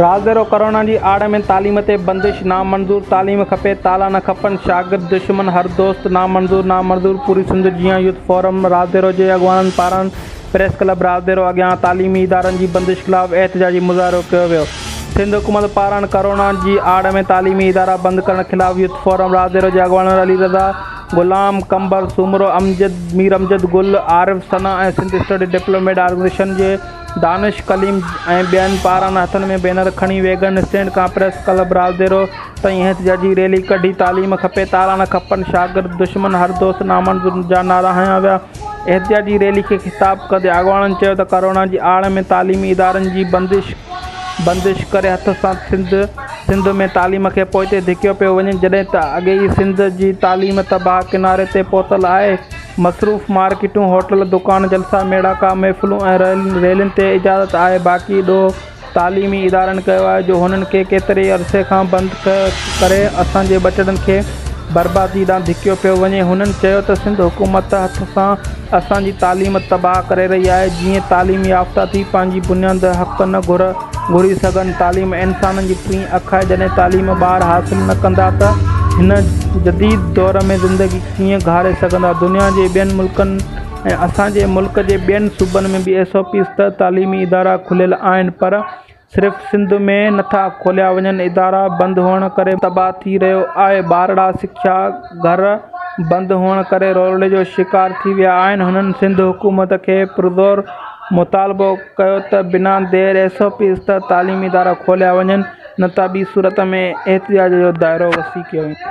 Razdero corona جي آڙ ۾ تعليم تي بندش نامنظور تعليم کپي تالا نه کپن شاگرد دشمن حر دوست نامنظور نامنظور پوري سنڌ جيان يوٿ فورم رازدرو جي اڳواڻن پاران پريس ڪلب رازدرو اڳيان تعليمي ادارن جي بندش خلاف احتجاجي مظاهرو ڪيو ويو سنڌ حڪومت پاران ڪرونا جي آڙ ۾ تعليمي ادارا بند ڪرڻ خلاف يوٿ فورم رازدرو جي اڳواڻن Ali Raza Ghulam Qambar Soomro, Amjad, Mir Amjad Gul, Arif Sana ۽ Sindh study development organisation جي دانش ڪليم ۽ ٻين پاران هٿن ۾ بينر کڻي ويگن اسٽينڊ کان پريس ڪلب رازديرو تائين احتجاجي ريلي ڪڍي تعليم کپي تالا نه کپن شاگرد دشمن هر دوست نامنظور جا نعرا هنيا ويا احتجاجي ريلي کي خطاب ڪندي اڳواڻن چيو ته ڪرونا جي آڙ ۾ تعليمي ادارن جي بندش بندش ڪري هٿ سان سنڌ سنڌ ۾ تعليم کي پوئتي ڌڪيو پيو وڃي جڏهن ته اڳي ئي سنڌ جي تعليم تباهه ڪناري تي پهتل آهي. مصروف مارڪيٽون، هوٽل، دڪان، جلسا، ميڙاڪا، محفلون ۽ ريلين تي اجازت آهي باقي ڏوهه تعليمي ادارن ڪيو آهي جو هنن کي ڪيتري ئي عرصي کان بند ڪري اسان جي ٻچڙن کي بربادي ڏانهن ڌڪيو پيو وڃي. هنن چيو ته سنڌ حڪومت هٿ سان اسان جي تعليم تباهه ڪري رهي آهي جيئن تعليم يافته ٿي پنهنجي بنياد حق نه گهر گهري سگهن. تعليم انسانن جي ٽين اک آهي، جڏهن تعليم ٻار حاصل نه ڪندا ته هن جديد دور ۾ زندگي ڪيئن گهاري سگهندا. دنيا جي ٻين ملڪن ۽ اسان جي ملڪ جي ٻين صوبن ۾ به ايس او پيز ته تعليمي ادارا کليل آهن پر صرف سنڌ ۾ نٿا کوليا وڃن ادارا بند هئڻ ڪري تباهه ٿي رهيو آهي ٻارڙا سکيا گهر بند هئڻ ڪري رولڙي جو شڪار ٿي ويا آهن هنن سنڌ حڪومت کي پرزور مطالبو ڪيو ته بنا دير ايس او پي استاد تعليمي ادارا کوليا وڃن نه ته ٻي صورت ۾ احتجاج جو دائرو وسيع ڪيو ويندو.